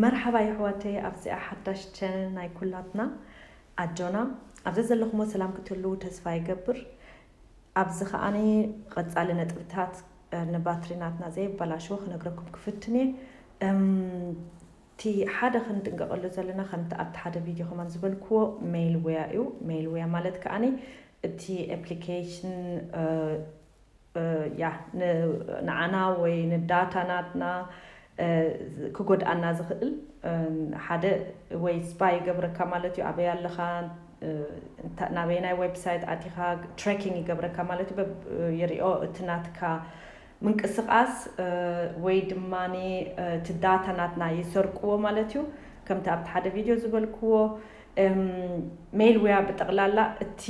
መርሓባ የሕዋተይ ኣብዚኣ ሓዳሽ ቸነል ናይ ኩላትና ኣጆና ኣብ ዘዘለኹሞ ሰላም ክትህልዉ ተስፋ ይገብር ኣብዚ ከኣ ቐጻሊ ነጥብታት ንባትሪ ናትና ዘየበላሽዎ ክነግረኩም ክፍትን እየ እም እቲ ሓደ ክንጥንቀቐሉ ዘለና ከምቲ ኣብቲ ሓደ ቪድዮ ከማን ዝበልክዎ ሜልዌያ እዩ ሜልዌያ ማለት ከኣ እቲ ኣፕሊኬሽን እያ ንዓና ወይ ንዳታ ናትና ክጎድኣና ዝኽእል ሓደ ወይ ስፓይ ይገብረካ ማለት እዩ ኣበይ ኣለኻ ናበየናይ ዌብሳይት ኣቲኻ ትራኪንግ ይገብረካ ማለት እዩ በብ ይሪኦ እቲ ናትካ ምንቅስቓስ ወይ ድማ እቲ ዳታ ናትና ይሰርቅዎ ማለት እዩ ከምቲ ኣብቲ ሓደ ቪድዮ ዝበልክዎ ሜይል ዌያ ብጠቕላላ እቲ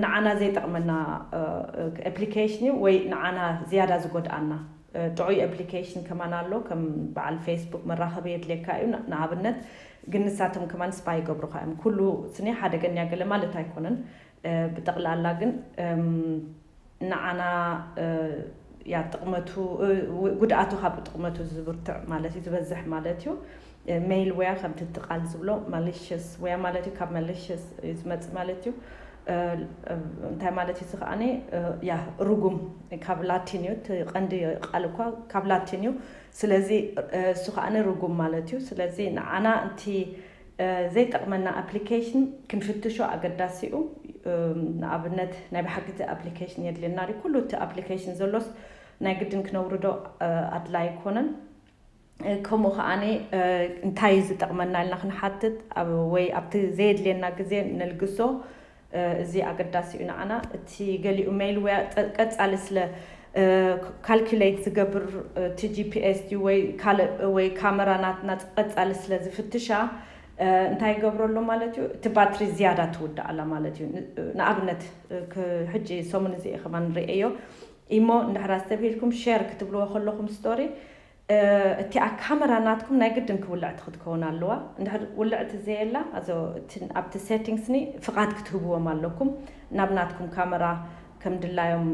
ንዓና ዘይጠቕመና ኣፕሊኬሽን እዩ ወይ ንዓና ዝያዳ ዝጎድኣና ጥዑይ ኣፕሊኬሽን ከማን ኣሎ ከም በዓል ፌስቡክ መራኸቢ የድልየካ እዩ ንኣብነት ግን ንሳቶም ከማን ስፓይ ይገብሩኻ እዮም ኩሉ ስኒ ሓደገኛ ገለ ማለት ኣይኮነን ብጠቕላላ ግን ንዓና እያ ጥቕመቱ ጉድኣቱ ካብ ጥቕመቱ ዝብርትዕ ማለት እዩ ዝበዝሕ ማለት እዩ ሜይል ወያ ከምቲ እቲ ቃል ዝብሎ ማሊሽስ ወያ ማለት እዩ ካብ ማሊሽስ እዩ ዝመፅእ ማለት እዩ እንታይ ማለት እዩ ዝኸኣነ ያ ርጉም ካብ ላቲን እዩ እቲ ቀንዲ ቃል እኳ ካብ ላቲን እዩ ስለዚ እሱ ከኣነ ርጉም ማለት እዩ ስለዚ ንዓና እቲ ዘይጠቕመና ኣፕሊኬሽን ክንፍትሾ ኣገዳሲ'ዩ። ንኣብነት ናይ ብሓቂ እቲ ኣፕሊኬሽን የድልየና ድዩ? ኩሉ እቲ ኣፕሊኬሽን ዘሎስ ናይ ግድን ክነውርዶ ኣድላይ ኣይኮነን። ከምኡ ከኣ እንታይ'ዩ ዝጠቕመና ኢልና ክንሓትት ወይ ኣብቲ ዘየድልየና ግዜ ነልግሶ እዚ ኣገዳሲ እዩ ንዓና እቲ ገሊኡ ሜልዌር ቀጻሊ ስለ ካልኩሌት ዝገብር እቲ ጂፒኤስ ድዩ ወይ ካልእ ወይ ካመራ ናትና ቀጻሊ ስለ ዝፍትሻ እንታይ ይገብሮ ኣሎ ማለት እዩ እቲ ባትሪ ዝያዳ ትውዳእ ኣላ ማለት እዩ ንኣብነት ሕጂ ሰሙን እዚ ከማን ርእየዮ ኢሞ እንድሕር ኣስተብሂልኩም ሼር ክትብልዎ ከለኹም ስቶሪ እቲኣ ካመራ ናትኩም ናይ ግድን ክውልዕቲ ክትከውን ኣለዋ እንድሕር ውልዕቲ ዘየላ ኣዞ እቲ ኣብቲ ሴቲንግስ ኒ ፍቃድ ክትህብዎም ኣለኩም ናብ ናትኩም ካመራ ከም ድላዮም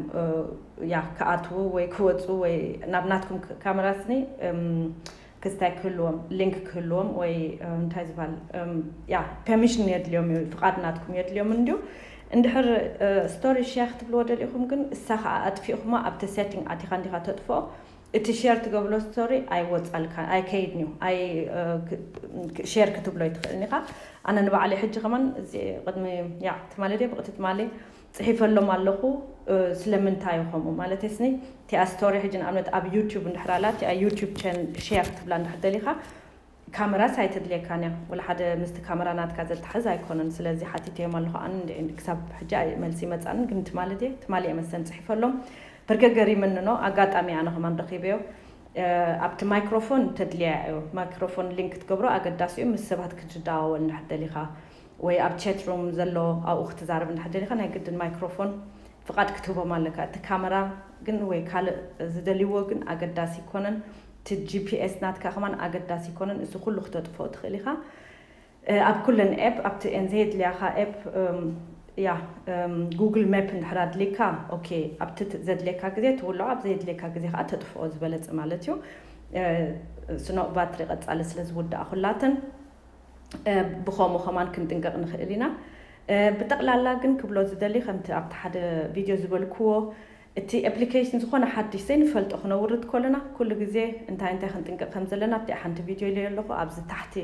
ያ ክኣትዉ ወይ ክወጹ ወይ ናብ ናትኩም ካመራ ስኒ ክስታይ ክህልዎም ሊንክ ክህልዎም ወይ እንታይ ዝባል ያ ፐሚሽን የድልዮም እዩ ፍቃድ ናትኩም የድልዮም እንድዩ እንድሕር ስቶሪ ሸር ክትብልዎ ደሊኩም ግን እሳ ክኣ ኣጥፊእኩማ ኣብቲ ሴቲንግ ኣቲካ እንዲካ ተጥፍኦ እቲ ሼር ትገብሎ ስቶሪ ኣይወጻልካን ኣይከይድንዩ ኣይ ሼር ክትብሎ ኣይትኽእልን ኢኻ ኣነ ንባዕለይ ሕጂ ከማን እዚ ቅድሚ ያዕ ትማሊ ድየ ብቕቲ ትማሊ ጽሒፈሎም ኣለኹ ስለምንታዩ ከምኡ ማለተይ ስኒ እቲኣ ስቶሪ ሕጂ ንኣብነት ኣብ ዩቱብ እንድሕር ኣላ እቲኣ ዩቱብ ቸን ሼር ክትብላ እንድሕር ደሊኻ ካመራስ ኣይተድልየካን እያ ወላ ሓደ ምስቲ ካመራ ናትካ ዘታሕዝ ኣይኮነን ስለዚ ሓቲተዮም ኣለኩ ኣነ እንድዒ ክሳብ ሕጂ መልሲ ኣይመጻንን ግን ትማሊ ድየ ትማሊ እየ መሰለኒ ጽሒፈሎም በርገ ገሪምኒ እኖ ኣጋጣሚ ኣነ ከማን ረኪበዮ ኣብቲ ማይክሮፎን ተድልያ እዩ ማይክሮፎን ሊንክ ክትገብሮ ኣገዳሲ እዩ ምስ ሰባት ክትዳዋወል እንድሕር ደሊካ ወይ ኣብ ቸት ሩም ዘሎ ኣብኡ ክትዛረብ እንድሕር ደሊካ ናይ ግድን ማይክሮፎን ፍቃድ ክትህቦም ኣለካ እቲ ካመራ ግን ወይ ካልእ ዝደልይዎ ግን ኣገዳሲ ኣይኮነን እቲ ጂፒኤስ ናትካ ከማን ኣገዳሲ ኣይኮነን እዚ ኩሉ ክተጥፍኦ ትክእል ኢካ ኣብ ኩለን ኤፕ ኣብቲ ኤን ዘየድልያካ ኤፕ እያ ጉግል ሜፕ እንድሕር ኣድልይካ ኦኬ ኣብቲ ዘድልየካ ግዜ ትውልዖ ኣብ ዘየድልየካ ግዜ ከዓ ተጥፍኦ ዝበለፀ ማለት እዩ ስኖ ባትሪ ቀፃሊ ስለ ዝውዳኣ ኩላተን ብኸምኡ ከማን ክንጥንቀቅ ንኽእል ኢና ብጠቅላላ ግን ክብሎ ዝደሊ ከምቲ ኣብቲ ሓደ ቪድዮ ዝበልክዎ እቲ ኤፕሊኬሽን ዝኾነ ሓድሽ ዘይንፈልጦ ክነውርድ ከሎና ኩሉ ግዜ እንታይ እንታይ ክንጥንቀቅ ከም ዘለና ኣብቲኣ ሓንቲ ቪድዮ ኢለዮ ኣለኹ ኣብዚ ታሕቲ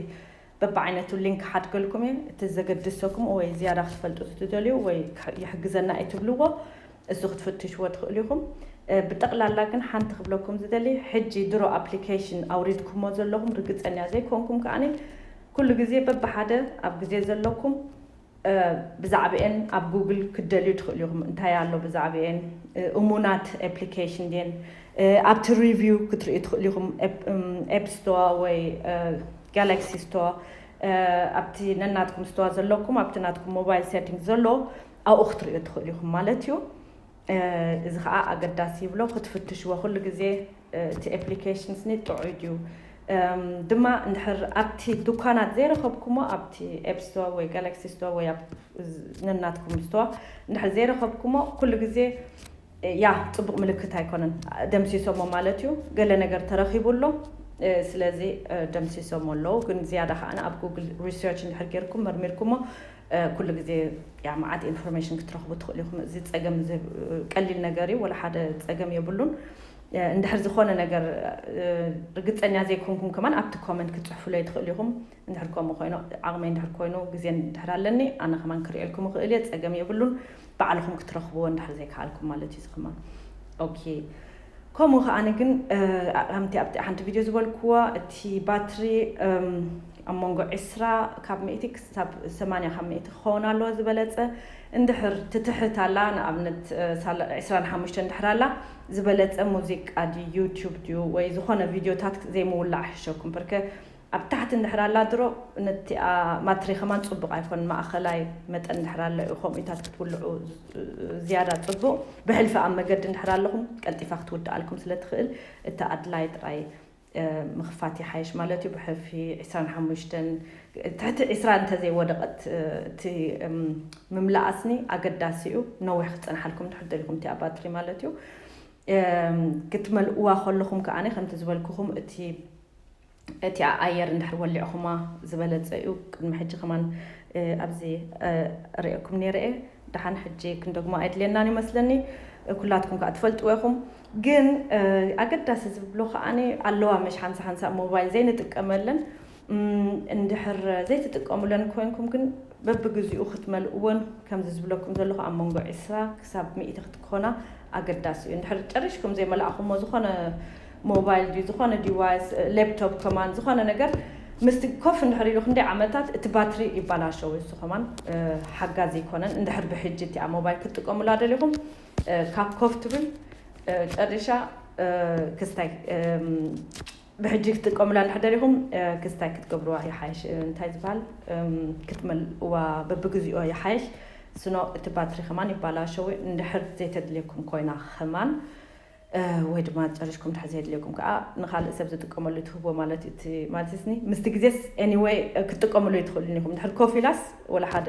በብዓይነቱ ሊንክ ክሓድገልኩም እየ እቲ ዘገድሰኩም ወይ ዝያዳ ክትፈልጡ ትደልዩ ወይ ይሕግዘና እዩ ትብልዎ እሱ ክትፍትሽዎ ትኽእሉ ኢኹም። ብጠቕላላ ግን ሓንቲ ክብለኩም ዝደሊ ሕጂ ድሮ ኣፕሊኬሽን ኣውሪድኩሞ ዘለኹም ርግጸኛ ዘይኮንኩም ከኣ ኩሉ ግዜ በብሓደ ኣብ ግዜ ዘለኩም ብዛዕብኤን ኣብ ጉግል ክትደልዩ ትኽእሉ ኢኹም እንታይ ኣሎ ብዛዕብኤን እሙናት ኣፕሊኬሽን ድየን ኣብቲ ሪቪው ክትርእዩ ትኽእሉ ኢኹም ኤፕ ስቶዋ ወይ ጋላክሲ ስቶዋ ኣብቲ ነናትኩም ስቶዋ ዘለኩም ኣብቲ ናትኩም ሞባይል ሴቲንግ ዘሎ ኣብኡ ክትርእዮ ትኽእሉ ኢኹም ማለት እዩ። እዚ ከኣ ኣገዳሲ ይብሎ ክትፍትሽዎ ኩሉ ግዜ እቲ ኤፕሊኬሽንስኒ ጥዑይ ድዩ ድማ እንድሕር ኣብቲ ዱኳናት ዘይረኸብኩሞ ኣብቲ ኤፕ ስቶር ወይ ጋላክሲ ስቶር ወይ ኣብ ነናትኩም ስቶር እንድሕር ዘይረኸብኩሞ ኩሉ ግዜ ያህ ጽቡቅ ምልክት ኣይኮነን ደምሲሶሞ ማለት እዩ ገለ ነገር ተረኪቡ ኣሎ ስለዚ ደምሲሶሞ ኣለዉ ግን ዝያዳ ከኣ ኣብ ጉግል ሪሰርች እንድሕር ጌርኩም መርሚርኩሞ ኩሉ ግዜ ያ መዓት ኢንፎርሜሽን ክትረክቡ ትክእሉ ኢኹም እዚ ጸገም እዚ ቀሊል ነገር እዩ ወላ ሓደ ጸገም የብሉን እንድሕር ዝኾነ ነገር ርግጸኛ ዘይኮንኩም ከማን ኣብቲ ኮመንት ክትጽሕፉለይ ትክእሉ ኢኹም እንድሕር ከምኡ ኮይኑ ዓቕመይ እንድሕር ኮይኑ ግዜ እንድሕር ኣለኒ ኣነ ከማን ክርእየልኩም እኽእል እየ ጸገም የብሉን ባዕልኹም ክትረኽብዎ እንድሕር ዘይከኣልኩም ማለት እዩ እዚ ከማን ኦኬ ከምኡ ከኣኒ ግን ከምቲ ኣብቲ ሓንቲ ቪድዮ ዝበልኩዋ እቲ ባትሪ ኣብ መንጎ ዕስራ ካብ ሚእቲ ክሳብ ሰማንያ ካብ ሚእቲ ክኸውን ኣለዎ ዝበለጸ እንድሕር ትትሕት ኣላ ንኣብነት ዕስራን ሓሙሽተ እንድሕር ኣላ ዝበለጸ ሙዚቃ ድዩ ዩቱብ ድዩ ወይ ዝኾነ ቪድዮታት ዘይምውላዕ ሕሸኩም ብርከ ኣብ ታሕቲ እንድሕር ኣላ ድሮ ነቲኣ ማትሪ ከማን ጽቡቅ ኣይኮን ማእከላይ መጠን እንድሕር ኣሎ እዩ ከምኡታት ክትውልዑ ዝያዳ ጽቡቅ ብሕልፊ ኣብ መገዲ እንድሕር ኣለኹም ቀልጢፋ ክትውድኣልኩም ስለ ትኽእል እቲ ኣድላይ ጥራይ ምኽፋት ይሓይሽ ማለት እዩ ብሕልፊ ዕስራን ሓሙሽተን ትሕቲ ዕስራ እንተዘይ ወደቀት እቲ ምምላኣስኒ ኣገዳሲ እዩ ነዊሕ ክጸንሓልኩም እንድሕር ደሊኹም እቲኣ ባትሪ ማለት እዩ ክትመልእዋ ከለኹም ከኣ ከምቲ ዝበልኩኹም እቲ እቲኣ ኣየር እንድሕር ወሊዕኹማ ዝበለጸ እዩ ቅድሚ ሕጂ ከማን ኣብዚ ሪኤኩም ኔረ እየ ደሓን ሕጂ ክንደግሞ ኣይድልየናን እዩ መስለኒ ኩላትኩም ከኣ ትፈልጥዎ ኢኹም ግን ኣገዳሲ ዝብሎ ከኣ ኣለዋ መሽ ሓንሳ ሓንሳ ሞባይል ዘይንጥቀመለን እንድሕር ዘይትጥቀሙለን ኮይንኩም ግን በብግዚኡ ክትመልእወን ከምዚ ዝብለኩም ዘለኹ ኣብ መንጎ ዕስራ ክሳብ ሚእቲ ክትኮና ኣገዳሲ እዩ እንድሕር ጨሪሽኩም ዘይመላእኹሞ ዝኾነ ሞባይል ድዩ ዝኾነ ዲቫይስ ሌፕቶፕ ከማን ዝኾነ ነገር ምስቲ ኮፍ እንድሕር ኢሉ ክንደይ ዓመታት እቲ ባትሪ ይባላሸው እሱ ከማን ሓጋዚ ይኮነን እንድሕር ብሕጂ እቲኣ ሞባይል ክትጥቀሙላ ደሊኹም ካብ ኮፍ ትብል ጨሪሻ ክስታይ ብሕጂ ክትጥቀሙላ እንድሕር ደሊኹም ክስታይ ክትገብርዋ ይሓይሽ እንታይ ዝበሃል ክትመልእዋ በብግዚኦ ይሓይሽ ስኖ እቲ ባትሪ ከማን ይባላሸው እንድሕር ዘይተድልየኩም ኮይና ከማን ወይ ድማ ጨሪሽኩም ድሕሪ ዘየድልየኩም ከኣ ንኻልእ ሰብ ዝጥቀመሉ ትህቦ ማለት እዩ እቲ ማልቲስኒ ምስቲ ግዜስ anyway ክትጥቀምሉ ኣይትኽእሉን ኢኹም ድሕሪ ኮፍ ኢላስ ወላ ሓደ